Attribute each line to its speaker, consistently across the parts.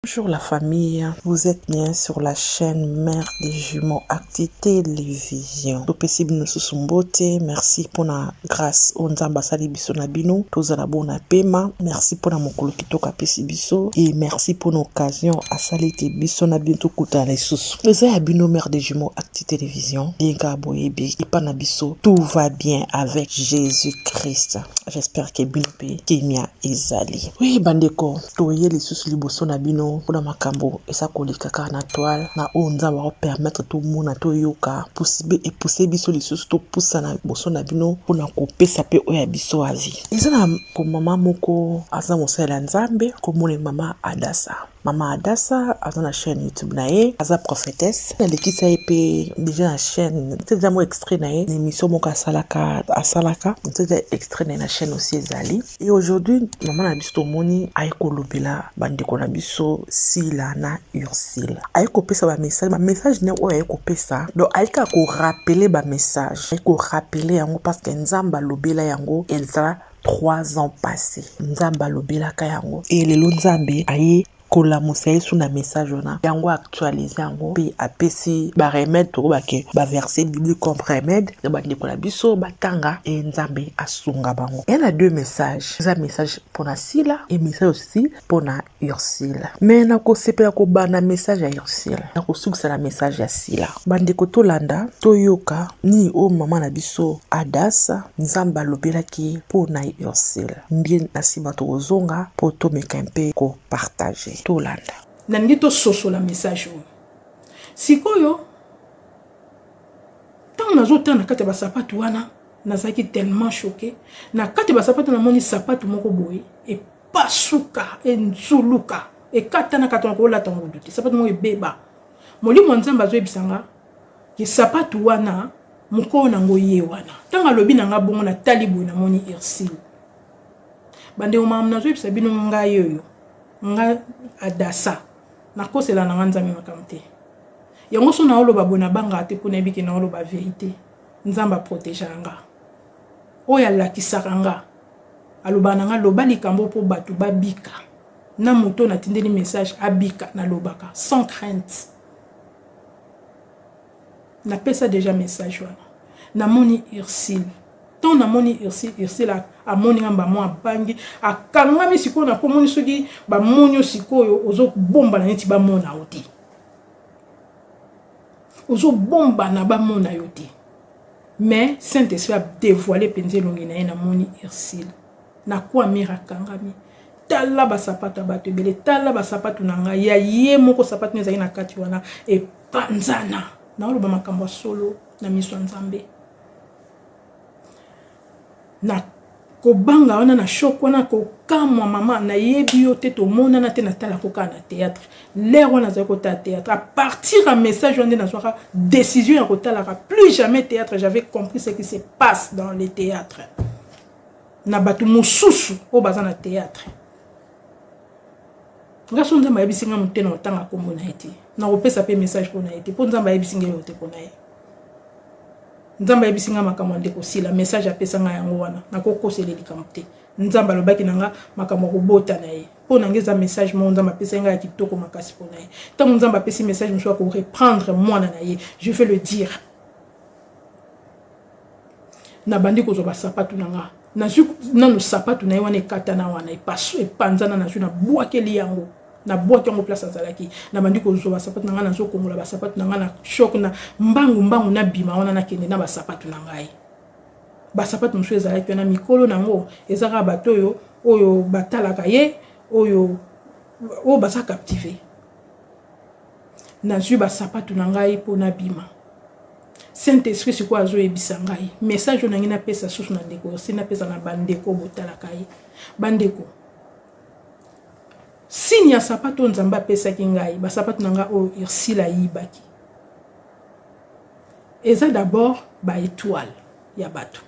Speaker 1: Bonjour la famille, vous êtes bien sur la chaîne Mère des Jumeaux Acti Télévision. Topesi bino susu mbote, merci pona grâce o Nzambe asali biso na bino, tozala bona pema, merci pona mokolo kitoko apesi biso et merci pona occasion asali te biso na bino tokutana lisusu. Eza ya bino Mère des Jumeaux Acti Télévision, bien ka boyebi epa na biso tout va bien avec Jésus-Christ. J'espère que bino pe kimia ezali. Oui bandeko, toye lisusu liboso na bino mpo na makambo eza koleka kaka na toile na oyo nzambe akopermettre tomona toyoka pusibe epuse biso lisusu topusana liboso na bino mpo na kopesa mpe oyo ya biso azi eza na komama moko aza mosali ya nzambe komona mama adasa mama adasa aza na chaîne youtube na ye aza prophétesse nalekisa ye mpe deja na chaîne eza mo extrait na ye na émission moko asalaka asalaka eza extrait na ye na chaîne osi ezali Et aujourd'hui, maman na biso tomoni aye kolobela bandeko na biso Sila na Ursule. Aye kopesa ba message, ba message ne oyo aye kopesa. Donc aye ka ko rappeler ba message. Aye ko rappeler yango parce que Nzamba lobela yango Elsa trois ans passés. Nzamba lobelaka yango. Et lelo Nzambe aye kolamusa yesu na message wana yango actualise yango mpe apesi baremede tokoba ke baverse biblique comme remede na bandeko na biso batanga e nzambe asunga bango ya na deux message eza message mpona sila e message osi mpona ursile me nakosepela kobanda message ya ursile nakosukisa na message ya sila bandeko tolanda toyoka nini oyo mama na biso adasa nzambe alobelaki ye mpo na ursule mbie na nsima tokozonga mpo tomeka mpe kopartage tolanda nalingi tososola
Speaker 2: message oyo sikoyo ntango nazotala na kati ya basapatu wana nazalaki tellement choqué na kati ya basapatu namoni sapatu moko boye epasuka enzuluka ekatana katana kolata ngudu te sapatu moko ebeba molimo ya nzambe azoyebisa nga ke sapatu wana mokolo nango ye wana ntango alobi na nga bongo natali boye namoni ursile bandeko mamu nazoyebisa bino ngai oyo nga adasa nakosela na nga nzambe makambo te yango so naoloba boye nabangaka te mpo nayebi ke naoloba verité nzambe aprotegea nga oyo alakisaka nga alobaka na nga loba likambo mpo bato babika na moto na tindeli message abika na lobaka sans crainte na pesa déjà message wana na moni ursile tant na moni ursile ursile amoni nga mbamo abangi akangami sikoyo na komoni soki bamoni yo sikoyo ozobombana neti bamona yo te ozobombana bamona yo te mais saint esprit adevoile mpenza elongi na ye namoni ursile nakwamire akangami tala basapato ya bato ebele tala basapato na ngai ya ye moko sapato no ezali na kati wana epanzana naoloba makambo ya solo na miso ya nzambe na kobanga wana na shok wana kokamwa mama nayebi yo te tomonana te natalako kaka na théâtre lere wana azali kotala théâtre à partir ya message wana nde nazwaka décision ya kotalaka plus jamais théâtre j'avais compris ce qui se passe dans le théâtre na bato mosusu oyo baza na théâtre nga so nzambe ayebisi nga motena otanga nkombo na ye te nakopesa mpe message mpo na ye te mpo nzambe ayebisi nga elote mpo na ye nzambe ayebisi nga makambo ya ndeko sila message apesa nga yango wana nakokosele likambo te nzambe alobaki na nga makambo ya kobota na ye mpo na nga eza message moko nzambe apesaki nga ya kitoko makasi mpo na ye ntango nzambe apesi message mosusu ya koreprendre mwana na ye je vais le dire nabandi kozwa basapatu na nga nazwi nanu sapatu na ye wana ekatana wana epanzana nazwi nabwakeli yango nabwaki yango place azalaki nabandi kozwa basapatu na ngai nazokongola basapatu na ngai na shok na mbangu mbangu nabima wana nakende na basapatu na ngai basapatu mosusu ezalaki wana mikolo na yango eza kaka bato oyo oyo batalaka ye oyo oyo baza captive nazwi basapatu na ngai mpo nabima saint esprit sikoyo azoyebisa ngai message oyo nangi napesa susu na ndeko osi napesa na bandeko botalaka ye bandeko signe ya sapato oyo nzambe apesaki ngai basapato na ngai oyo ursile ayibaki eza d'abord baetoile ya bato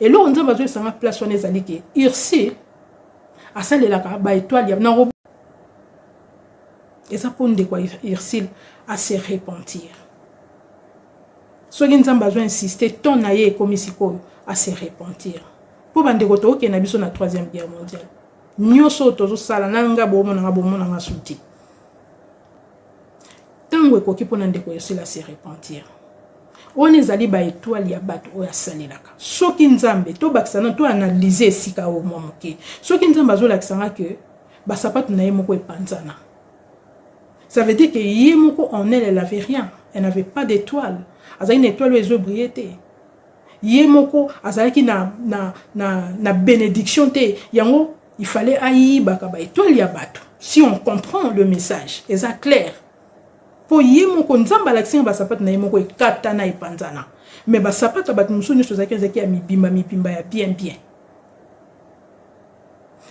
Speaker 2: eloko nzambe azoyebisa ngai place wana ezali ke ursile asalelaka baetoile ya na eza mpo ndeko ya ursile ase repentir soki nzambe azo insiste temps na ye ekomi sikoyo ase repentir mpo bandeko tookende na biso na troisième guerre mondiale nyonso oyo tozosala na nga bomonanga bomonanga suti ntango ekoki mpo na ndeko yosila ase repentir wana ezali baetoile ya bato oyo asalelaka soki nzambe tobakisa na toanalyse esika oyo mwa moke soki nzambe azolakisa nga ke Basapatu na ye moko epanzana. Ça veut dire que ye moko en elle, elle avait rien. Elle n'avait pas d'étoile. Azalaki na étoile oyo ezo briller te. Ye moko azalaki na, na, na, na bénédiction te. Yango, il fallait ayibaka ba étoile ya bato. Si on comprend le message, eza clair. Po ye moko nzambe alakisi nga basapatu na ye moko ekatana epanzana. Mais basapatu ya bato mosusu nyonso ezalaki ezalaki ya mibimba mibimba ya bien bien.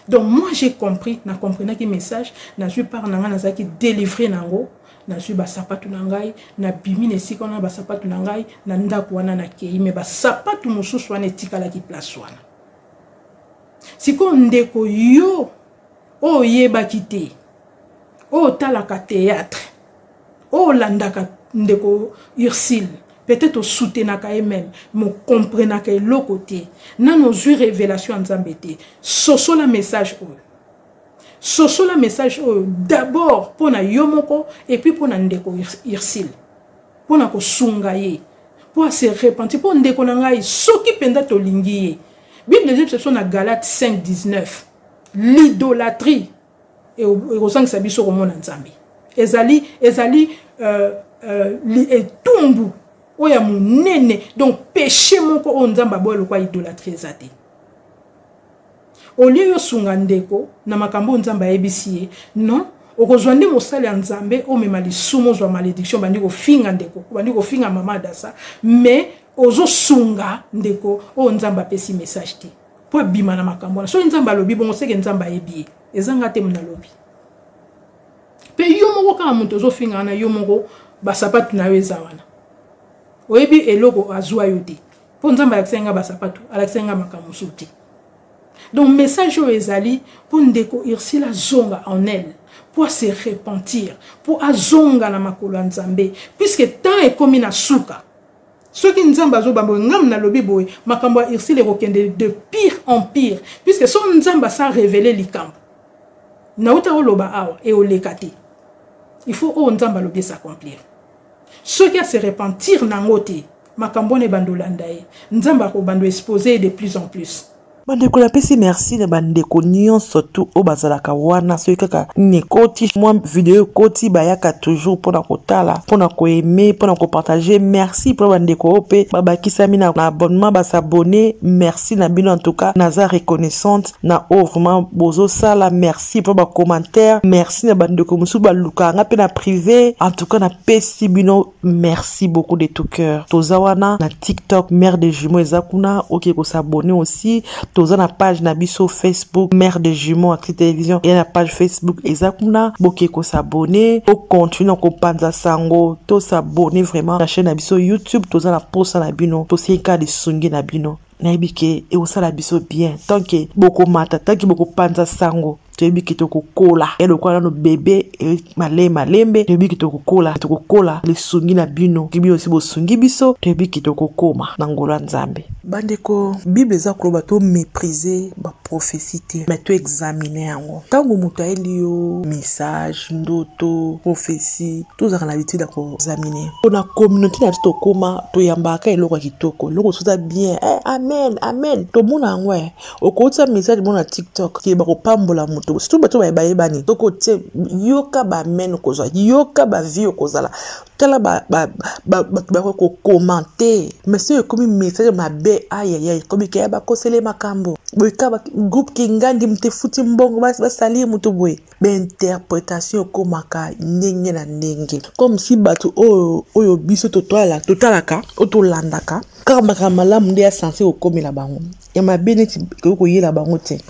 Speaker 2: donc moi j'ai compris na comprenaki message nazwi part na ngai nazalaki délivre na yango nazwi basapatu na ngai nabimi na esika wana basapatu na ngai na ndako wana nakei me basapatu mosusu wana etikalaki place wana sikoyo ndeko yo oyo oyebaki te oyo otalaka théâtre Oh, landaka ndeko Ursule. Peut-être au soutenaka ye même, mais comprenaka eloko te. Nanu ozui révélation ya Nzambe te. Sosola message oyo. Sosola message oyo d'abord mpo na yo moko et puis mpo na ndeko Ursule. Mpo na kosunga ye. Mpo ase repentir. Mpo ndeko na ngai soki mpenza tolingi ye. Bible ezebisa biso na Galate 5, 19. L'idolâtrie ekozangisa biso komona nzambe ezali ezali euh, euh, etumbu oyo ya monene donc péché moko oyo nzambe aboya lokwa idolatrie eza te olie yosunga ndeko na makambo oyo nzambe ayebisi ye non okozwa nde mosali ya nzambe omema lisumu ozwa malédiction obandi kofinga ndeko obandi kofinga mama adasa mais ozosunga ndeko oyo nzambe apesi message te mpo ebima na makambo wana soki nzambe alobi bongo seke nzambe ayebi ye eza nga te mona alobi mpe yo moko kaka moto ozofinga wana yo moko basapatu na yo eza wana oyebi eloko azwa yo te mpo nzambe alakisaki nga basapatu alakisaki nga makambo mosusu te donc message oyo ezali mpo ndeko ursula zonga en elle mpo ase repentir mpo azonga na makolo ya nzambe puiske temps ekomi na suka soki nzambe azobamba oyo ngam nalobi boye makambo ya ursile ekokende de pire en pire puisque so nzambe asa revele likambo nauta oloba awa eoleka te il faut oyo nzambe alobi esacomplir soki ase repentir nango te makambo wana ebanda olanda ye nzambe akobanda expose ye de plus en plus bandeko napesi
Speaker 1: merci na bandeko nyonso tu oyo bazalaka wana soki kaka nekoti mwa video ekoti bayaka toujours mpo na kotala mpo na koaime mpo na kopartage merci mpo na bandeko oyo mpe babakisami na abonnement basabone merci na bino entouka naza reconnaissante na oyo vraiment bozosala merci mpo bacommentaire merci na bandeko mosusu balukaka nga mpe na prive entouka napesi bino Merci beaucoup de tout cœur. Toza wana na TikTok Mère des Jumeaux eza kuna oke ko s'abonner aussi. Toza na page na biso Facebook Mère des Jumeaux Actu Télévision et na page Facebook eza kuna boke ko s'abonner. O continue ko panza sango to s'abonner vraiment na chaîne na biso YouTube toza na posa na bino. Toseka de sungi na bino. nayebi ke ekosala biso bien tant ke bokomata tant ke bokopanza sango toyebi ke tokokola ya lokola nano bebe e, male malembe toyebi ke tokokola tokokola lisungi na bino ki bino si bosungi biso toyebi ke tokokoma na ngolo ya nzambe bandeko bible eza koloba to méprise prophetie te mais to examine yango ntango moto ayeli yo message ndoto prophetie tozalaka na habitude ya koexamine mpo na communauté na biso tokóma toyambaka eloko ya kitoko eloko mosusu eza bien eh, amen amen tomona yango eh. okotisa message mona na tiktok ke bakopambola moto surtout bato baye bayebani soki otie yoka baamen okozwa yoka bavie okozala tala bato bakoki kokomante mais soki ekomi message mabe ayaya ekomi kaya bakosele makambo boye ka groupe kingandi moto efuti mbongo basali moto boye bainterpretation ekomaka ndenge na ndenge comme si bato oyo oyo biso totalaka oyo tolandaka kaka makambo malamu nde ya sense kokomela bango ya mabe neti ekoki koyela bango te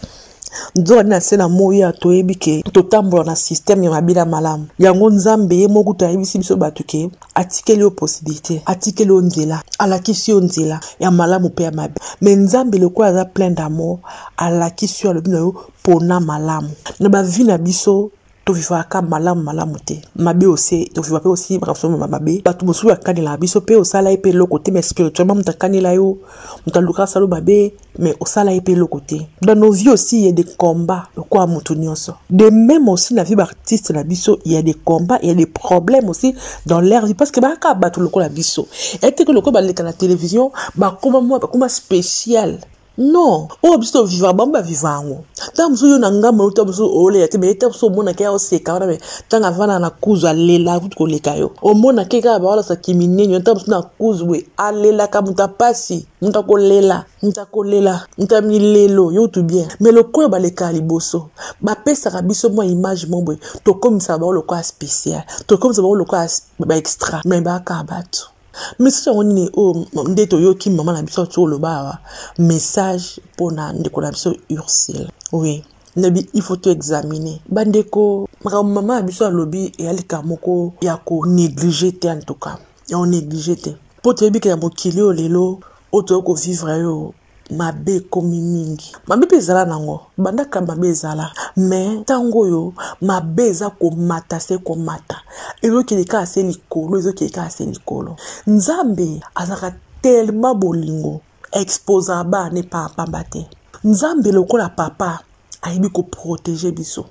Speaker 1: nzokande na nse na moi ya toyebi ke totambola na systeme ya mabele ya malamu yango nzambe ye moko kutu ayebisi biso bato ke atikeli yo posibilité atikeli yo nzela alakisi yo nzela ya malamu mpe ya mabe me nzambe lokola aza plein d'amour alakisi yo alobi na yo pona malamu na bavi na biso tovivaka malamu malamu te mabe ose toviva mpe osi makambo ma mabe bato mosusu bakanelaka biso mpe osala ye mpe eloko te mais spirituellement moto akanela yo moto aluka asala yo mabe mais osala ye mpe eloko te dans nos vies aussi ya de combat lokola moto nyonso de même aussi na vie baartiste na biso ya de combat ya de problème aussi dans leur vie parce que bakaka bato lokola biso eteke lokola baleka na télévision bakoma mwa bakoma spécial non oyo biso toviva bango baviva yango ntango mosusu yo na ngai molo ntango mosusu olela te me ntango mosusu omonaka ya oseka wana me ntango avanda na kuzu alela kutu koleka yo omonaka ye kaka baolasa kiminenio ntango mosusu na kuzu boye alelaka moto ya mpasi moto akolela moto akolela moto ya milelo yo kutu bien me lokola balekaka liboso bapesaka biso mwa image mo boye tokomisaka bango lokola spécial tokomisaka bango lokola baextra me bakaka bato message yango nini oyo oh, nde toyoki mama na biso ati oloba awa message mpo na ndeko na biso ursule oui nabi il faut toexamine bandeko makambo mama na biso alobi eya likambo moko ya konéglige te en tout cas ya konéglige te mpo toyebi ke ya mokili oyo lelo oyo toyei kovivre yo mabe ekomi mingi mabe mpe ezala nango banda kala mabe ezala me ntango oyo mabe eza komata se komata ezokende kaka se likolo ezokende kaka se likolo nzambe azalaka telema bolingo exposaka bana ne paa pamba te nzambe lokola papa ayebi koprotege biso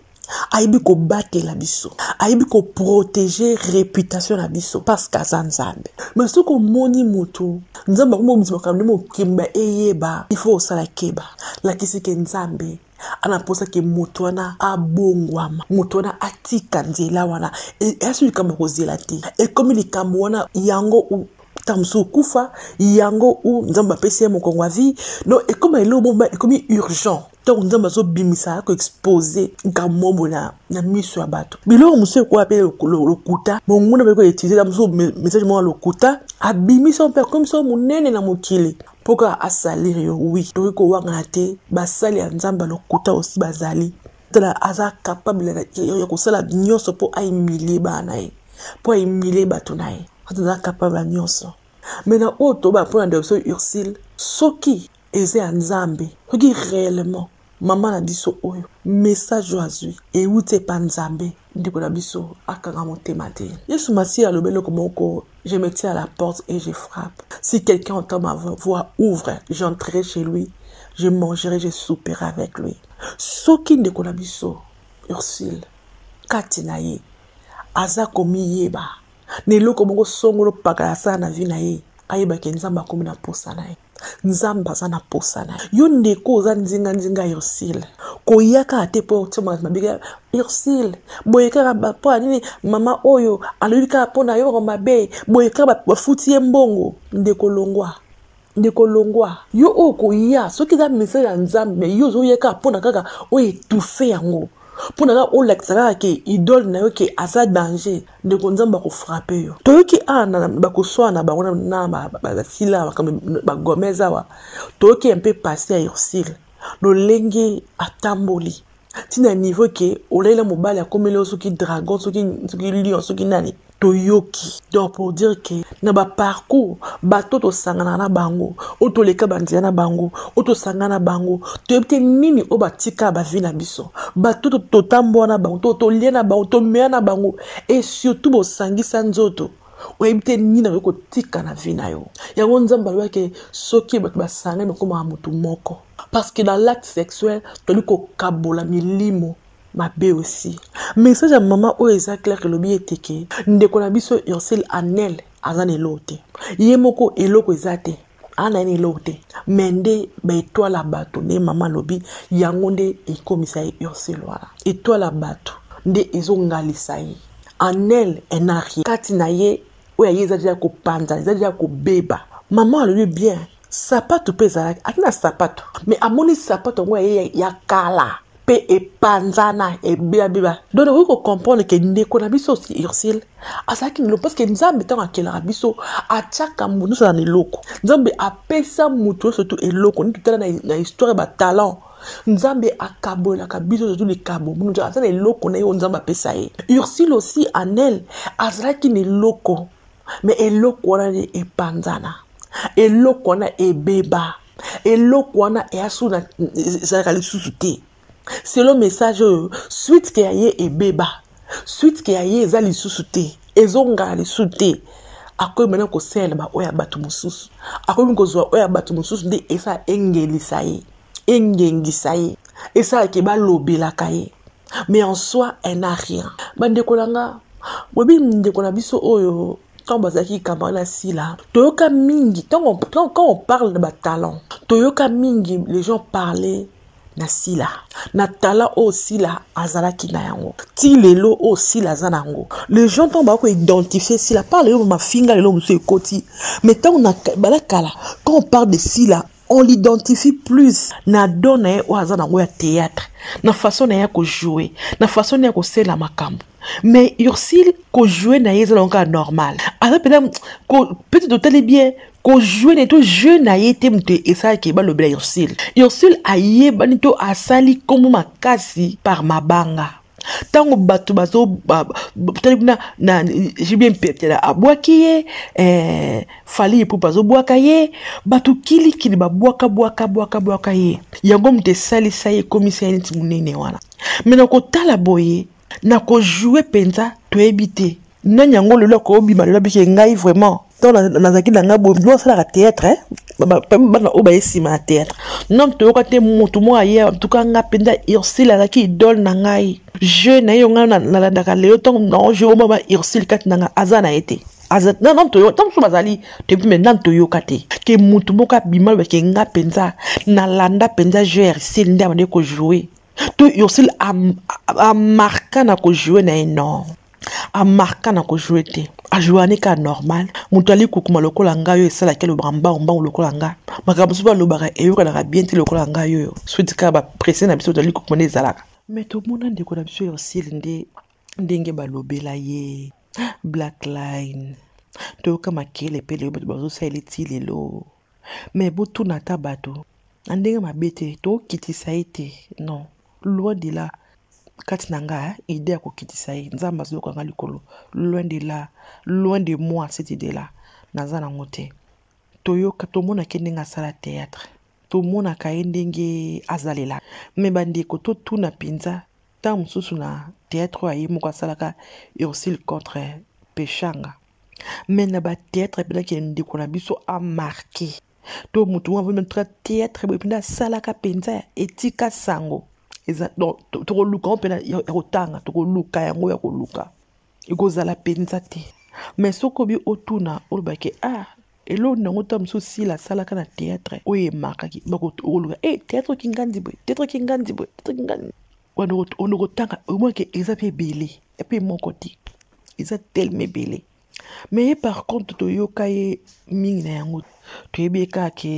Speaker 1: ayebi kobatela biso ayebi koprotege reputation na biso parceke aza nzambe me soki omoni motu nzambe akomobimisa makambo nde mokimba eyeba ifo osala keba lakisi ke nzambe ana mposa ke moto wana abongwama moto wana atika nzela wana esi likambo ya kozela te ekomi likambo wana yango ntango mosusu okufa yango u nzambe apesi ye mokongo ya vie no ekoma eloko moko ekomi urgent ntango nzambe azobimisa ya koexpose nkamombo na, na miso ya bato biloko mosusu ekoya mpe lokuta monguna mpe koutilize mosusu message moko ya lokuta abimisa yo mpe akomisa yo monene na mokili mpo kaka asalire yo wi tokoki kowangana te basali ya nzambe ya lokuta osi bazali tala aza capable ya kosala nyonso mpo aimilie bana na ye mpo aimilie bato na ye aza capable ya nyonso me na oyo toba mpo na ndeko biso ursile soki eza ya nzambe soki réellement mama na biso oyo message oyo azwi euti epa nzambe ndeko na biso akanga motema te yesu masiya alobi eloko moko Je me tiens à la porte et je frappe. Si quelqu'un entend ma voix, ouvre. J'entrerai chez lui. Je mangerai, je souperai avec lui. Soki ndeko na biso, Ursule, kati na ye, aza komiyeba. Na eloko moko songolo pakala asala na vie na ye, ayebake nzambe akomi na mposa na ye. nzambe aza na posa na yo ndeko oza nzinganzinga ya ursile koya kaka te mpo otyomaka mabika ursile boye kaka mpo ya nini mama oyo alobi kaka mpo na yo mako mabe boye kaka bafuti ye mbongo ndeko longwa ndeko longwa yo oyo koya soki eza message ya nzambe me yo ozoya kaka mpo na kaka oyo etufe yango mpo na kaka olakisa kaka ke idole na yo ke aza danger ndeko nzambe akofrape yo toyoki awa ah, bakoswana na bango na basila awa makambo bagomez awa toyoki ya mpe pase ya ursile lolenge atamboli ntina niveau ke olaila mobali akomeli yo soki dragon soki lion soki nani toyoki donc pour dire ke na baparcours bato tosanganaka na bango oyo toleka banzela na bango oyo tosangana na bango toyebi te nini oyo batika bavi na biso bato totambola na bango to tolia na bango tomeya na bango e surtout bosangisa nzoto oyebi te nini nakoki kotika na vi na yo yango nzambe alobaki soki bato basangani bakomaka motu moko parce que na l'acte sexuel toli kokabola milimo mabe aussi message ya mama oyo eza claire elobi ete ke ndeko na biso ursile anel aza na eloko te ye moko eloko eza te ana ye na eloko te me nde baetoile ya bato nde mama alobi yango nde ekomisa ye ursile wana etoile ya bato nde ezongalisa ye anel enarie kati na ye oyo aye eza deja ya kopanzana eza deja ya kobeba mama alobi bien sapato mpe ezalaki ati na sapato me amoni sapato yango ya ye ya kala mpe epanzana ebiabiba donc okoki kocomprendre ke ndeko na biso osi ursile azalaki na eloko parceke nzambe ntango akelaka biso atiaka moto nyonso na eloko nzambe apesa moto nyonso tu eloko nini totala na histoire ya batalent nzambe akabolelaka biso ozo likabo moto aza na eloko na ye oyo nzambe apesa ye ursile osi anel azalaki na eloko me eloko wana nde epanzana eloko wana ebeba eloko wana easu na ezalaka lisusu te selo message oyo suite ke ya ye ebeba suite ke ya ye eza lisusu te ezongala lisusu te akoki mena kosalela baoyo ya bato mosusu akoki kozwa oyo ya bato mosusu nde esa engelisa ye engengisa ye esalaka ebalobelaka ye mais en soi elle n'a rien bandeko na nga boyebi ndeko na biso oyo ntango bazalaki camarade na sila toyoka mingi ntango quand on parle de batalent toyoka mingi les gens parler na sila na tala oyo sila azalaki na yango ti lelo oyo sila aza na yango les gens ntango bako identifie sila par lelo mafinga lelo mosusu ekoti mais ntango bala kala quand on parle de sila on l'identifie plus na don na ye oyo aza nango ya théâtre na façon na ye ya kojoue na façon na ye ya kosela makambo mais ursile kojoue na ye eza nango kaka normal aza mpenza peut-être totali bien kojoue na ye to jeu na ye te moto esalaki ye balobela ursile ursile ayebani to asali nkombo makasi par mabanga ntango bato bazotali kuna na jibie mpepela abwaki ye eh, fali epupe azobwaka ye bato kilikili babwaka bwaka bwaka bwaka ye yango moto esalisa ye ekomisa ye neti monene wana me na kotala boye na kojoue mpenza toyebi te nani yango lelo akobima lelo abike ngai vraiment ntango nazalaki na ngai boye bino asalaka théâtre eh? bana oyo baye nsima ya théâtre nom toyoka te motu moko aye antuka ngai mpenza ursile azalaki idole na ngai jeu na ye yo ngai nalandaka lelo ntango nao jeu omama ursile kati na ngai aza na ye te ntango mosusu bazali toyebi me nani toyoka te ke motu moko abima lobake ngai mpenza nalanda mpenza jeu ya ursile nde abandi kojoue to ursile amarka na kojoue na ye non amarka na kojoue te ajoani ka normal moto ali kukuma lokola ngai oyo esalaki alobaka mbangu mbangu lokola ngai makambo mosusu alobaka eyokanaka bien te lokola ngai oyo switi kaka baprese na biso moto ali kukuma nde ezalaka me tomona ndeko na biso ursile nde ndenge balobela ye black line toyoka makele mpe lelo bato bazosalela ti lelo me botuna ata bato na ndenge mabe te tokitisa ye te non Loin de là kati na nga idée ya kokitisa ye nzambe azoyoka nga likolo loin de là loin de moi cette idée là naza nango te toyoka tomonaka ye ndenge asala théâtre tomonaka ye ndenge azalela me bandeko totuna mpenza ntango mosusu na théâtre oyo aye moko asalaka ursule contre peshanga me na bateatre mpenzaki ndeko na biso amarke to motu wana vraimen tra theatre boye mpenza asalaka mpenza etika sango eza donc tokoluka yango mpena ya kotanga tokoluka yango ya koluka ekozala mpenza te mais soki obi otuna olobake ah eloko nango ta mosusu sila asalaka na theatre oyo emakaki bakoluka e eh, theatre kingandi boye theatre kingandi boye theatre kingandi onokotanga omonake eza mpe ebele epe moko te eza telema ebele mais ye par contre toyoka ye mingi na yango toyebi ye kaka ke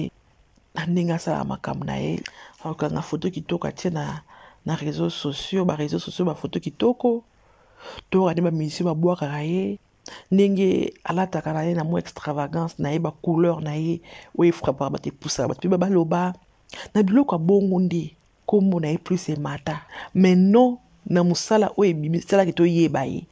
Speaker 1: na ndenge asala makambo na ye akokanga foto kitoko atie na na réseau sociaux ba réseau sociaux bafoto kitoko toyoka nde bamisio babwakaka ye ndenge alataka na ye na mwa extravagance na ye bacouleur na ye oyo efrapaka bato epusaka bato mpe babaloba na biloko ya bongo nde kombo na ye plus emata mais non na mosala oyo ebimi esalaki toyeba ye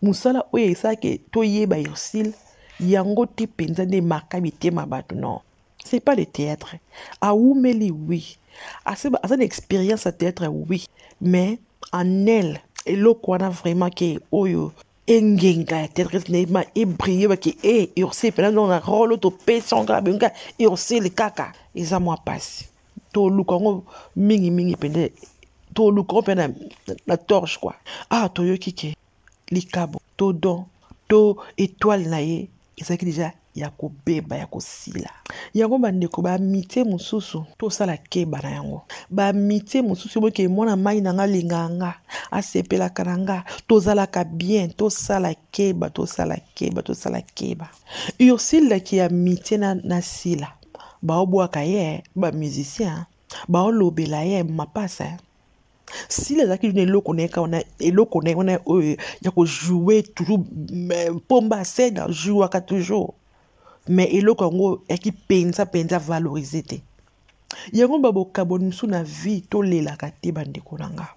Speaker 1: mosala oyo esalaki toyeba ursile yango te mpenza nde emaka mitema bato non c'est pas le théâtre awumeli oui aza na expérience ya théâtre oui mais en elle eloko wana vraiment ke oyo engenga ya théâtre naima ebrille bake e eh, ursile mpena nona role topesi yango kaka benga ursile kaka eza mwa mpasi toluka yango mingimingi mpenza toluka yango mpe na, na torche kua awa ah, toyoki ke likabo to don to etoile na ye ezalaki deja ya kobeba ya kosila yango bandeko baamitie mosusu tosala keba na yango baamitie mosusu eboke mwana mai na nga alingaka nga asepelaka na nga tozalaka bien tosala keba tosala keba tosala keba ursile daki ya mitie na, na sila baobwaka ye ba musicien baolobela ye mapasa sila azalaki na eloko na ye kaka wana eloko na ye wana oyo ya kojoue toujours mpomba asene ajouaka toujours mais eloko yango yaki mpenza mpenza valorise te yango babokaboni mosusu na vie tolelaka te bandeko na ngai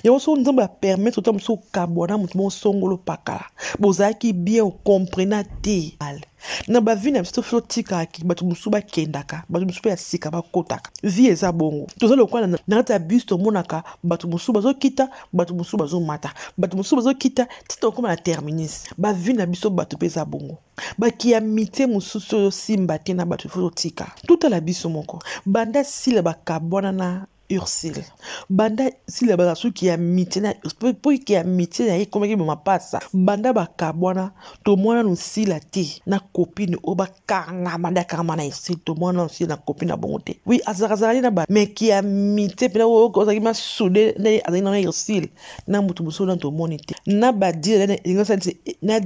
Speaker 1: yango soki nzambe apermettre ota mosusu okabwana moto moko songolo pakala bozalaki bien okomprena te ale na bavi na biso tofi totikaki bato mosusu bakendaka bato mosusu mpe ya sika bakotaka vie eza bongo toza lokola na kati ya bus tomonaka bato mosusu bazokita bato mosusu bazomata bato mosusu bazokita ti tokoma na terminus bavi na biso bato mpe eza bongo bakiamite mosusu oyo osimba te na bato ifo totika totala biso moko banda sila bakabwana na Ursule banda sila baza suki ya mitie na Ursule mpo ike ya mitie na ye ekomaki boma mpasa banda bakabwana tomwana no sila te na kopine oyo bakangama nde akangama na Ursule tomwana no sila na kopine na bongo te wi azalakazala ye na ba meki ya mitie mpena oyo ozalaki masude nde azalaki na Ursule na moto mosusu na tomoni te na badile na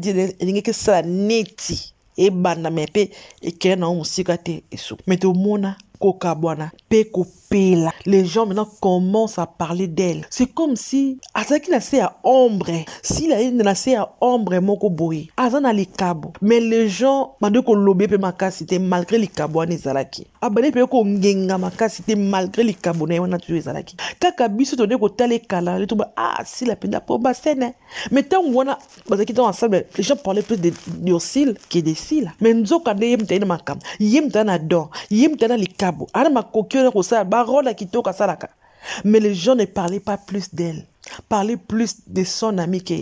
Speaker 1: elingi esala neti ebanda me mpe ekenda nango mosika te esuku me tomona kokabwana mpe kopela les gens maintenant commence à parler d'elle c'est comme si azalaki na se ya ombre sila ayende na se ya ombre moko boye aza na likabo mais les gens bande koloba ye mpe makasi te malgré likabo wana ezalaki abandi mpe kongenga makasi te malgré likabo na ye wana tuyo ezalaki kaka biso tode kotala ekala nde toba ah sila mpenza po basene mais ntango wana bazalaki ntango ensemble les gens parlaient plus de d'ursile que de sila mais nzoka nde ye moto aye na makambo ye moto aye na don ye moto aye na likabo aye na makoki oyo na kosala barole ya kitoko asalaka mais les gens ne parlaient pas plus d'elle parlaient plus de son ami que,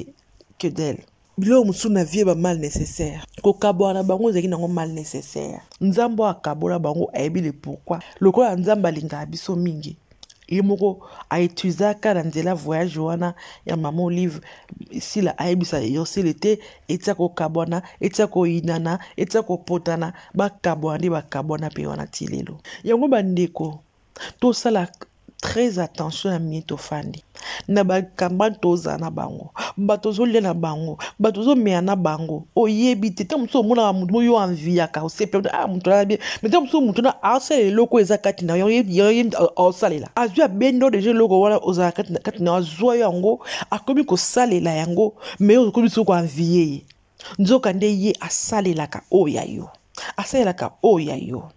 Speaker 1: que d'elle biloko mosusu na vie ba mal nécessaire kokabola na bango ezalaki nango mal nécessaire nzambe oyo akabola bango ayebi le pourquoi lokola nzambe alingaka biso mingi ye moko aetuizaka na nzela voyage wana ya mama olive sila ayebisa yosele te etia kokabwana etia koyinana etia kopotana bakabwana nde bakabwana mpe wana ti lelo yango bandeko tosala très attention ya mie tofandi na bakambani tozala na bango bato ozolia na bango bato ozomeya na bango oyebi te ntango mosusu omonaka motu moyo anviyaka osepela ah moto alala bien me ntango mosusu motu na asalela eloko eza kati na yo osalela azwi abenda yo deja eloko wana ozala kati na yo azwa yo yango akomi kosalela yango me okomi soki koanviye ye nzoka nde ye asalelaka oyo ya yo asalelaka oyo ya yo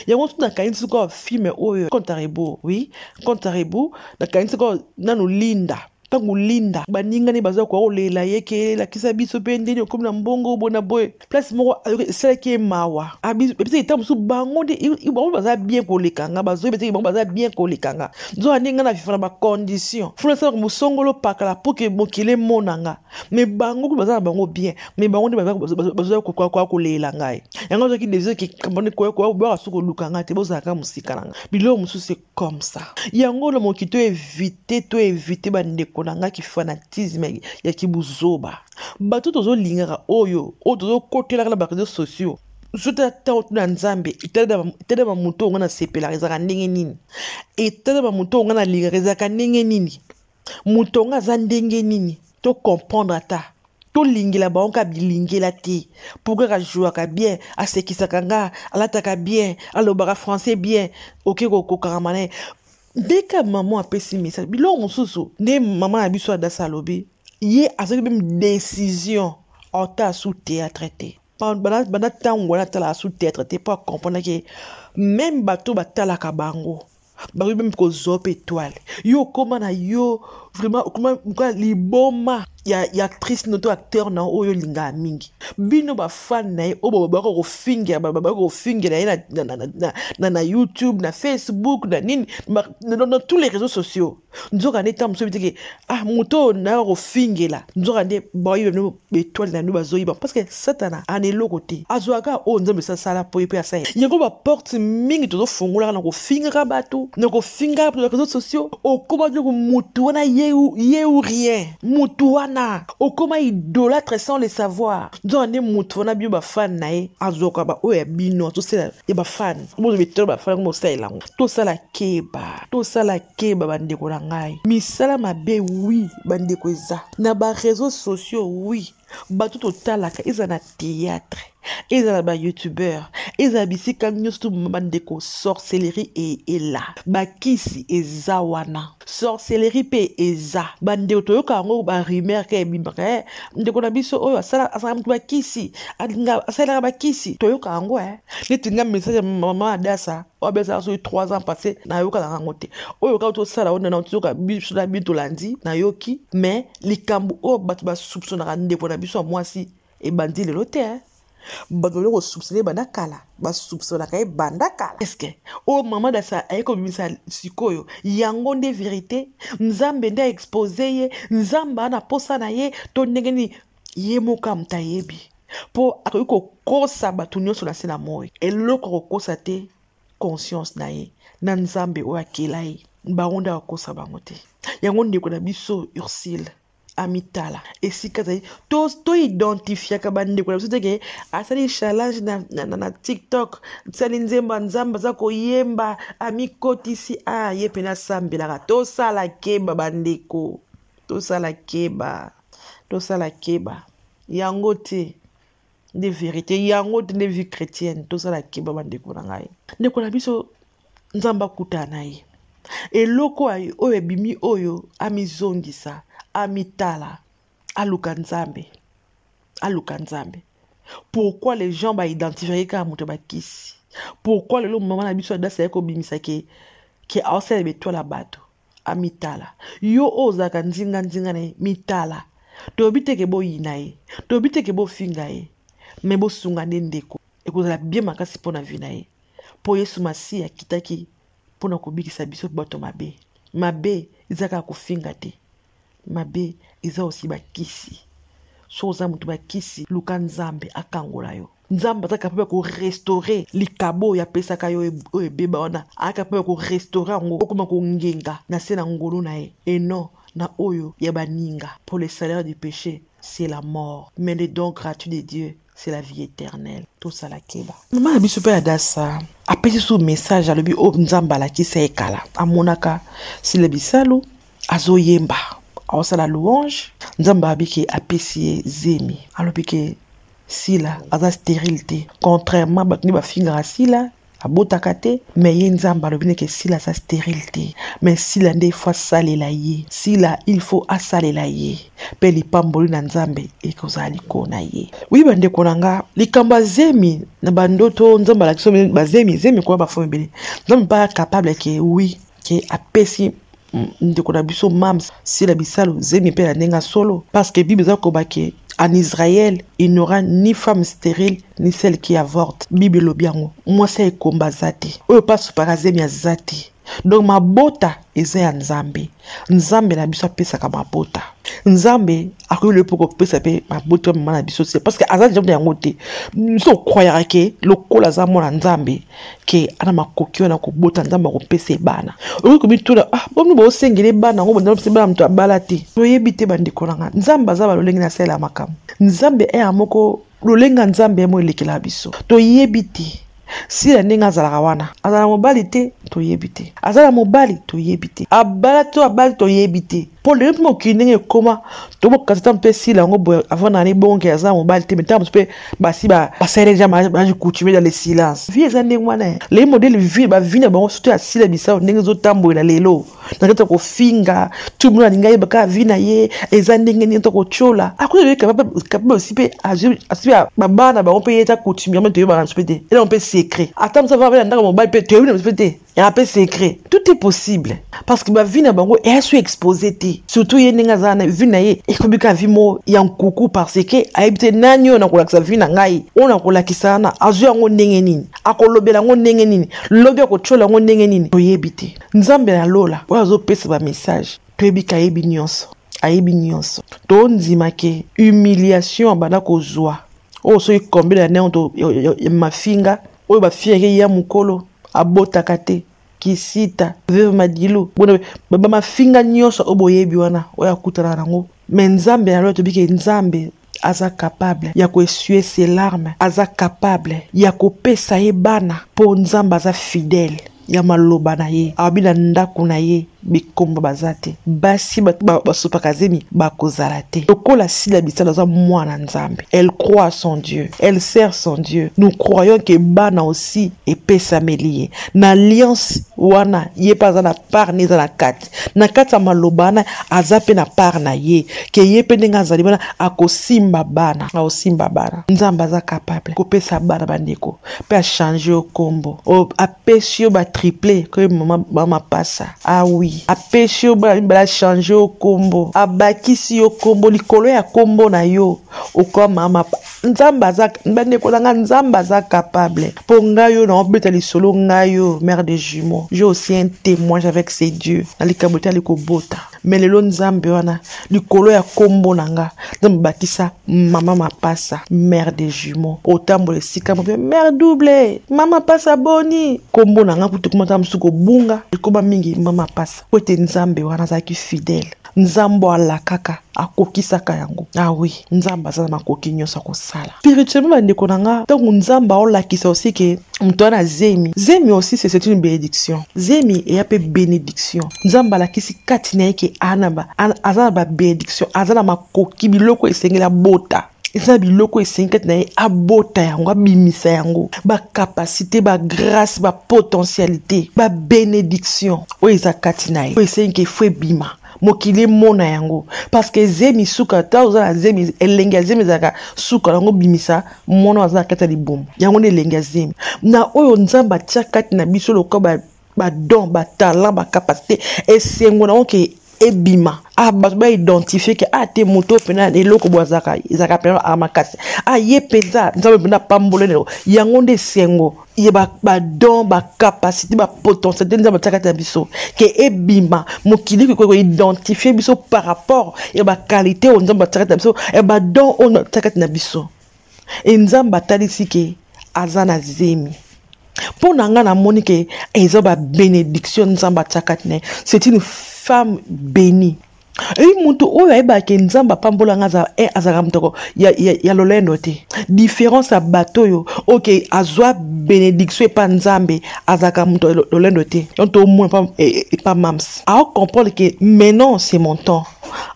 Speaker 1: yango tu nakanisi sikoyo filme oyo contarebo oui contarebo nakanisi sikoyo nanu linda ntango linda baningani baza koya kolela ye ke elakisa biso mpe ndeni okomi na mbongo boye na boye place moko esalaki ye mawa ebisaki ntango mosusu bango nde bango baza bien koleka nga bazoyi beteki bango baza bien koleka nga nzoka ndenge nga na viva na bacondition funa esalaka mosongolo pakala mpo ke mokili emona nga me bango kutu baza na bango bien me bango nde bazoya kokoya koleela ngai yango azwaki desir koyaka so koluka ngai te bozalaka mosika na ngai biloko mosusu e comme ça yango na moki to evite to evite bandeko na ngai kifanatisme ya kibuzoba bato tozolingaka oyo oyo tozokotelaka na bareseau sociaux zotala ntango tuna nzambe etala bamoto oyo ngai nasepelaka ezalaka ndenge nini etala bamoto oyo ngai nalingaka ezalaka ndenge nini moto yango aza ndenge nini to comprendre ata tolingela bango kaka bilingela te mpo kaka jouaka bien asekisaka nga alataka bien alobaka français bien oke kokokangama na ye nde ka mama apesi message biloko mosusu nde mama na biso adasa alobi ye azali meme décision ata asu théâtre te banda ntango wana atalaka sous théâtre te mpo acomprendre ke meme bato batalaka bango bakoki meme kozwa mpe etoile yo okoma na yo vraiment okoma moka liboma ya, ya actrice no to acteur na oyo olingaka mingi bino bafane na ye oyo babaka kofingela babaka kofingela ye na, na, na, na, na, na youtube na facebook na nini na, na, na, na tous les réseaux sociaux nzoka nde ntango mosusu bitike ah moto oyo nayo akofingela nzoka nde bayiba bino betoile na bino bazoyiba parce que satana ana eloko te azwaka oyo nzambe esasala mpo ye mpe asala yango baporte mingi tozofungolaka na kofingaka bato na kofingaka bato na réseau sociaux okoma biloko motu wana ye ou rien motu wana okoma idolatre sans le savoir nzoka nde motu wana bino bafane na ye azwaka baoyo ya bino azosala ya bafane obozo betoile bafane yango bosalela yango tosala keba tosala keba bandeko na ngai misala mabe wi bandeko eza na bareseau sociaux wi bato totalaka eza na théâtre eza na bayoutubeur eza na bisika nyonso to bandeko sorcellerie e, ela bakisi eza wana sorcellerie mpe eza bandeko toyoka yango barumeur ka ebimaka e ndeko na biso oyo asalaka moto bakisi asalelaka bakisi toyoka yango e neti nga message ya mama adasa oyo ezalaka soki 3 ans passé nayokaka yango te oyo kaka tosala oyo nana toyoka biso na bino tolandi nayoki mais likambo oyo bato basupsonaka ndeko na biso ya mwasi ebandi lelo te hein? bato bali kosupsona ye banda kala basupsonaka ye banda kala eske oyo oh, mama dasa aye kobimisa sikoyo yango nde verité nzambe nde aexpose ye nzambe ana mposa na ye to ndenge nini ye moko amuta ayebi mpo akoki kokosa bato nyonso na se na moi eloko akokosa te conscience na ye na nzambe oyo akela ye bango nde akokosa bango te yango ndeko na biso ursile amitala esika azali toidentifiaka to bandeko na biso teke asali challenge na, na, na, na tiktok asali nzembo ya nzambe aza koyemba amikotisi a ah, ye mpe nasambelaka tosala keba bandeko tosala keba tosala keba yango te nde verité yango te nde vie chrétienne tosala keba bandeko na ngai ndeko na biso nzambe akutana na ye eloko oyo ebimi oyo amizongisa amitala aluka nzambe aluka nzambe pourquoi les gens baidentifie kaka moto ya bakisi pourquoi lelo mama na biso adasi aye kobimisa ke ke aosalela betwala bato amitala yo oyo ozalaka nzinganzinga na ye mitala tolobi teke boyina ye tolobi teke bofinga ye me bosunga nde ndeko ekozala bie makasi mpo na vi na ye mpo yesu masiya akitaki mpo na kobikisa biso bato mabe mabe ezalaka kofinga te mabe eza osi bakisi so oza moto bakisi luka nzambe akangola yo nzambe aza kapable korestore likabo oyo apesaka yo oyo ebeba wana aza kapable korestore yango okoma kongenga na se na ngolu na ye enon na oyo ya baninga pour le salaire du péché c'est la mort mais le don gratuit de dieu c'est la vie éternelle tosala keba mama na biso mpe adasa apesi so message alobi oyo oh, nzambe alakisa ye kala amonaka sile bisalu azoyemba aosala louange nzambe abi ke apesi ye zemi alobi ke sila aza stérile te contrairement bato nde bafingaka sila abotaka te me ye nzambe alobi neke sila aza sterile te me sila nde ifo asalela ye sila il faut asalela ye mpe lipamboli na nzambe ekozala likolo na ye wi bandeko na nga likambo ya zemi na bandoto nzambe alakisa bazemi zemi koya bafo ebele nzambe mpe capable ke wi ke apesi ndeko na biso mams sila bisalu zemi mpe na ndenge ya solo parce que bible eza koba ke en israel il n'aura ni femme stérile ni celle qui avorte bible elobi yango mwasi ya ekomba aza te oyo mpe asopaka zemi aza te donc mabota eza ya nzambe nzambe na biso apesaka mabota nzambe akoki loye mpo kopesa mpe mabota ya mama na biso se parce que aza nzambe yango te biso okwayaka ke lokola aza mwana nzambe ke ana makoki wana kobota nzambe akopesa ye bana okoki komituna ah, bomi boosengela ye bana yango banda bana moto abala te toyebi te bandeko na ngai nzambe aza balolenge na salela makambo nzambe eya eh, moko lolenge ya nzambe yemo elekela biso toyebi te sila ndenge azalaka wana azala mobali te toyebi te azala mobali toyebi te abala to abali toyebi te mpo lelo mpe mokili ndenge ekoma tobokasi ntango mpe esila yango boye avant na ebongoke aza mobali te ntango mosusu mpe basi basaleli deja mariage coutumier dans le silence vie eza ndenge wana eh. lei modele vie bavi na bango surtout asila bisao ndenge ezotambolela lelo na kati ya kofinga tout monde alingi ayeba kaka vie na ye eza ndenge nini to kotyola akoki oyo capable osi mpe asi mpe babana bango mpe ye eza coutumier mpe toyebaka na biso mpe te elaa mpe secret ata mosu avaa mpe na ndako mobali mpe toyebi na biso mpe te ya mpe secret tout est possible parce que bavi na bango eya so expose te surtout ye ndenge aza na vi na ye ekobika vi moko ya nkuku parce que ayebi te nani oyo nakolakisa vi na ngai oyo nakolakisa wana azwi yango ndenge nini akolobela yango ndenge nini lobi akotyola yango ndenge nini toyebi te nzambe na lola oyo azopesa bamessage toyebi ke ayebi nyonso ayebi nyonso tondima ke humiliation abanda kozwa oyo soki kombela ya ndenge mafinga oyo ba fiere ya mukolo abotaka te kisita veuve madilu bona bamafinga nyonso oyo boyebi wana oyo akutana nango me nzambe na lola tobi ke nzambe aza capable ya koesue se larme aza capable ya kopesa ye bana mpo nzambe aza fidele ya maloba na ye awabi na ndako na ye bikombo baza te basi basopaka zemi bakozala te lokola sila bisala aza mwana nzambe elle croit son dieu elle sert son dieu nous croyons ke bana aussi epesameli ye na alliance wana ye mpe aza na part ne eza na kati na kati ya maloba wana aza mpe na part na ye ke ye mpe ndenge azali wana akosimba bana akosimba bana nzambe aza capable kopesa bana bandeko mpe achange yo nkombo apesi yo batriple koye mama pasa awi ah apesi yo bachange yo nkombo abakisi yo nkombo likolo ya nkombo na yo okoma nzambe aza bandeko na ngai nzambe aza capable mpo ngai yo naobeta lisolo ngai yo mère de jumeau je aussi un témoignage avec ces dieux na likambo etali kobota me lelo nzambe wana likolo ya nkombo na nga nzambe bakisa mama mapasa mère de jumeau otambola esika mope mère double mama pasa boni nkombo na nga kutu komata mosusu kobunga ekoba mingi mama pasa mpo ete nzambe wana azalaki fidèle nzambe alakaka akokisaka yango awi ah nzambe aza na makoki nyonso akosala spirituellement bandeko na nga ntango nzambe aolakisa osi ke moto wana zemi zemi aussi c'est une bénédiction zemi eya mpe bénédiction nzambe alakisi kati na ye ke aza na babénédiction aza na makoki biloko esengeli abota eza na biloko esengi kati na ye abota yango abimisa yango bacapacité bagrace bapotentialité babenediction oyo eza kati na ye oyo esengi ke fo ebima mokili emona yango parceke zemi suka ta oza na zemi elengi ya zemi ezalaka suka yango bimisa mwana aza na kati ya libumu yango na elengi ya zemi na oyo nzambe atya kati na biso lokola ba don ba talent ba capacité esengo nango ke ebima ah bato baidentifie ke ah te moto oyo mpena eloko boye azalaka ezalaka mpena aa makasi ah ye mpenza nzambe mpena apambole lelo yango nde esengo ye badon bacapacité bapotentialité nzambe atiaka kati na biso ke ebima mokili kokoki koidentifie biso par rapport ya baqualité oyo nzambe atiaka kati na biso ya badon oyo atiaka kati na biso e nzambe atalisi ke aza na zemi mpo na ngai namoni ke eza babenediction nzambe atiaka tine c'est une femme bénie eyi moto oyo ayebaka ke nzambe apambola ngai eh, azalaka motoko ya, ya, ya lolendo te différence ya bato oyo ok azwa benediction epa nzambe azalaka moto ya lolendo te donc tomona epa eh, eh, mams aocomprendre ke maintenant c'est mon temps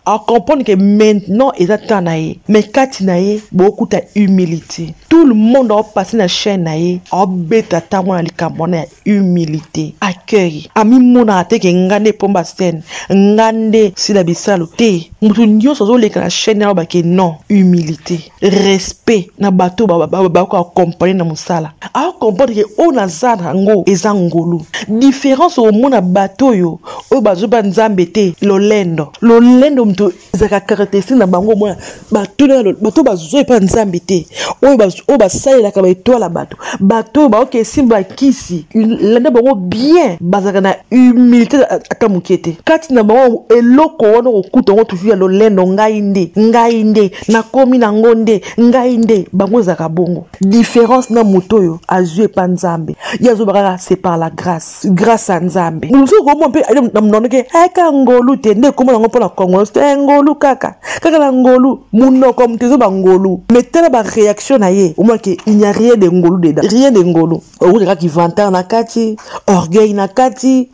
Speaker 1: a comprendre que maintenant eza temps na ye mais kati na ye bokuta humilité tout le monde aopase na chaîne na ye aobeta ntango na likambo wana ya humilité accueil amimonaka te ke nga nde pomba scène nga nde sila bisalu te moto nyonso azoleka na chaîne aloba ke non humilité respect na bato bakoki akompagne na mosala akompane ke oyo naza na yango eza ngolu diference okomona bato oyo oyo bazoba nzambe te lolendo lolendo moto ezalaka karakteristike na bango omona bato bazwa epa nzambe te oyo basalelaka baetwala bato bato oyo baoki esimba bakisi landa bango bien bazalaka na humilité ata moke te kati na bango eloko wana okokuta yango toujours ya lolendo ngai nde ngai nde nakomi nango nde ngai nde bango ezalaka bongo différence na moto oyo azwi epa nzambe ye azoba kaka c'est par la grâce grâce ya nzambe mosusu okomona mpe na monoko ke eka eh, ngolu te nde ekoma nango mpo na kongo te eh, ngolu kaka kaka na ngolu monoko moto ezoba ngolu mais tala baréaction na ye omonake il n'y a rien de ngolu dedans rien de ngolu okutaka kivantare na kati orgueil na kati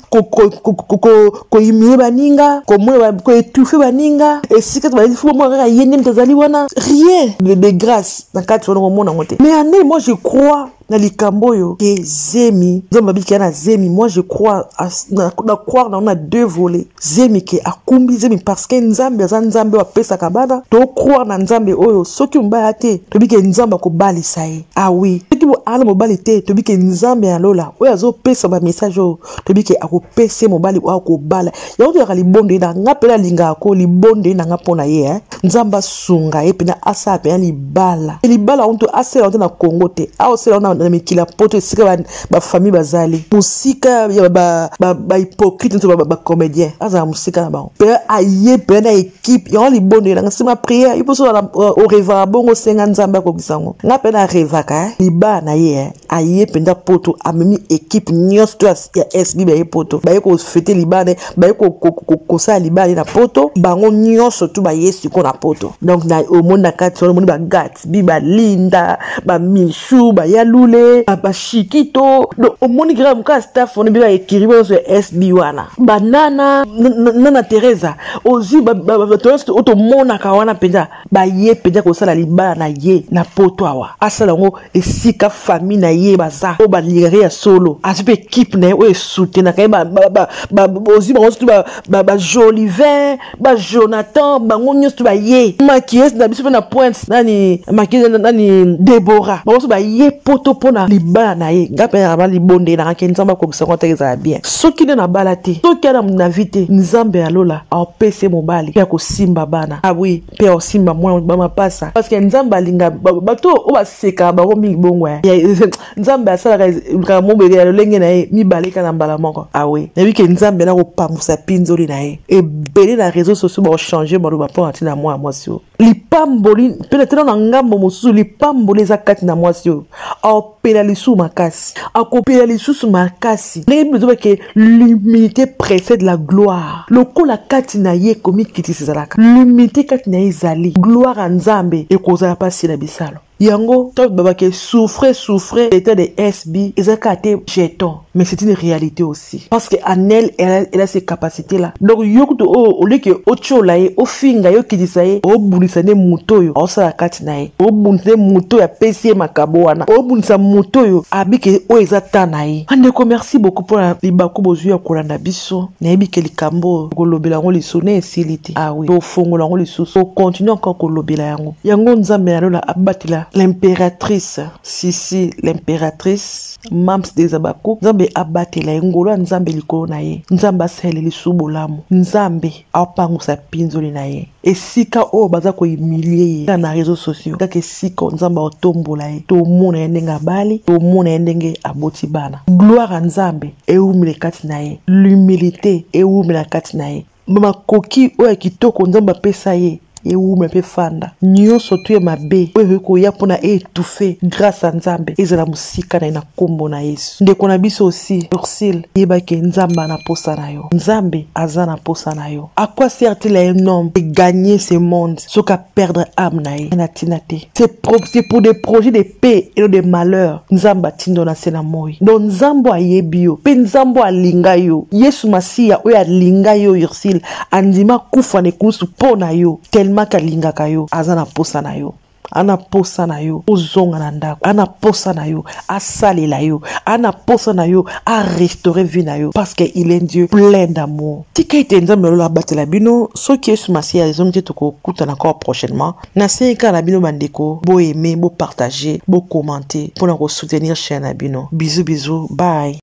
Speaker 1: koyimie baninga koetufe baninga esika tobaomona kaka ye nde moto azali wana rien de grâce na kati wana komona yango te mais ane moi je crois na likambo oyo ke zemi nzambe abikela na zemi moi je crois na croire nango na deux volet zemi ke akumbi zemi parce que nzambe aza nzambe oyo apesaka bana tocroire na nzambe oyo soki mobali aya te toyebi ke nzambe akobalisa ye awi ah soki aa na mobali te toyebi ke nzambe ya lola oyo azopesa bamessage oyo toyebi ke akopesa ye mobali oyo akobala yango toyaka libondo ye na nga mpe nalingaka ko libondo ye na nga mpo na ye eh. nzambe asunga ye mpena asala mpena libala libala yango to asala yango te na congo te aosala yango na mikili ya poto esika bafamille bazali mosika ya bahypocrite to bacomédien azala mosika na bango mpe aye mpe na ekipe yango libondo elanga nsima priere iposo orevaka euh, bongo osenga nzambe akokisa yango nga mpe narevaka eh. libaa na ye eh. aye mpenza poto amemi ekipe nyonso to ya sb baye poto baye kofete libaa na ye baye kosala libala na poto bango nyonso tu baye siko na poto donc na omoni na kati wana omoni bagatbi balinda bamichu bayalule bashikito donc omoni kaka mokaa staff wana bika ekiri nyonso ya sb wana banana nana teresa ozwi bato nyonso otomonaka wana mpenza baye mpenza kosala libala na ye na poto awa asala yango esika famille na ye baza oyo balingaka ya solo azwi mpe ekipe na ye oyo esutenaka ye ozwi bango sotu bajolivin bajonathan bango nyonso tu baye makiese na biso mpe na pointe nani makiese nani debora bango so baye poto mpo na libala na ye ngai mpe naba libondelaka ke nzambe akokisa yango ateke ezala bien soki nde nabala te soki ana na vi te nzambe ya lola apese mobali mpe akosimba bana ah oui mpe osimba mwana bamapasa parce que nzambe alinga bato oyo basekaka bango mingi bongo eh. eh, nzambe asalaka likambo mobele ya lolenge na ye mibale kaka na mbala moko ah oui nayebi ke nzambe nakopangusa pinzoli na ye ebele na réseau sociaux bakochange maloba mpo na ntina mwana mwasi oyo lipamboli mpe na tena na ngambo mosusu lipamboli eza kati na mwasi oyo akopela lisusu makasi akopela lisusu makasi ndenge bible ezoba ke l'humilité précède la gloire lokola kati na ye komikitisa ezalaka l'humilité kati na ye ezali gloire ya nzambe ekozala mpasi na bisalo yango ntango babake souffre souffre etat de sb eza kaka te jeton mais c'est une réalité aussi parce que anel elle, a, elle a ses capacités là donc yo kutu oyo oh, oleke otyola ye ofinga ye okitisa ye obundisa nde moto oyo aosala kati na ye obundisa nde moto oyo apesi ye makabo wana obundisa moto oyo abike oyo eza ta na ye andeko merci beaucoup mpona libaku bozwi ya kolanda biso nayebi ke likambo oyo kolobela yango liso na esili te awi ah tofongola yango lisusu okontinue encore kolobela yango yango nzambe na lola abatela l'impératrice sisi l'impératrice mams des abakuk nzambe abatela ye ngolo ya nzambe likolo na ye nzambe asalela lisusu bolamu nzambe apangusa pinzoli na ye esika oyo baza kohumilie ye kaka na réseau sociaux kaka esika oyo nzambe aotombola ye tomona ye ndenge abali tomona ye ndenge aboti bana gloire ya nzambe ewumela kati na ye l'humilité ewumela kati na ye makoki oyo ya kitoko nzambe apesa ye ewuma mpe fanda nyonso tu ya mabe oyo ekoki koya mpo na etufe grâce ya nzambe ezala mosika na ye na nkombo na yesu ndeko na biso osi ursile yeba ke nzambe ana mposa na yo nzambe aza na mposa na yo à quoi sert-il à un homme de gagner ce monde soki perdre âme na ye na tina te c'est pour des projets de paix et non de malheur nzambe atinda na se na moi donc nzambe ayebi yo mpe nzambe alinga yo yesu masiya oyo alinga yo ursile andima kufa na ekulusu mpo na yo tellement kalingaka yo aza na mposa na yo ana posa na yo ozonga na ndako ana posa na yo asalela yo ana posa na yo arestore vie na yo parce que il est dieu plein d'amour tika ete nzambe ya lola abatela bino soki yesu masiya ezongi te tokokutana kaka prochainement nasengi kaka na bino bandeko boaime bopartage bocommente mpo na kosoutenir chaine na bino bizu bizu bye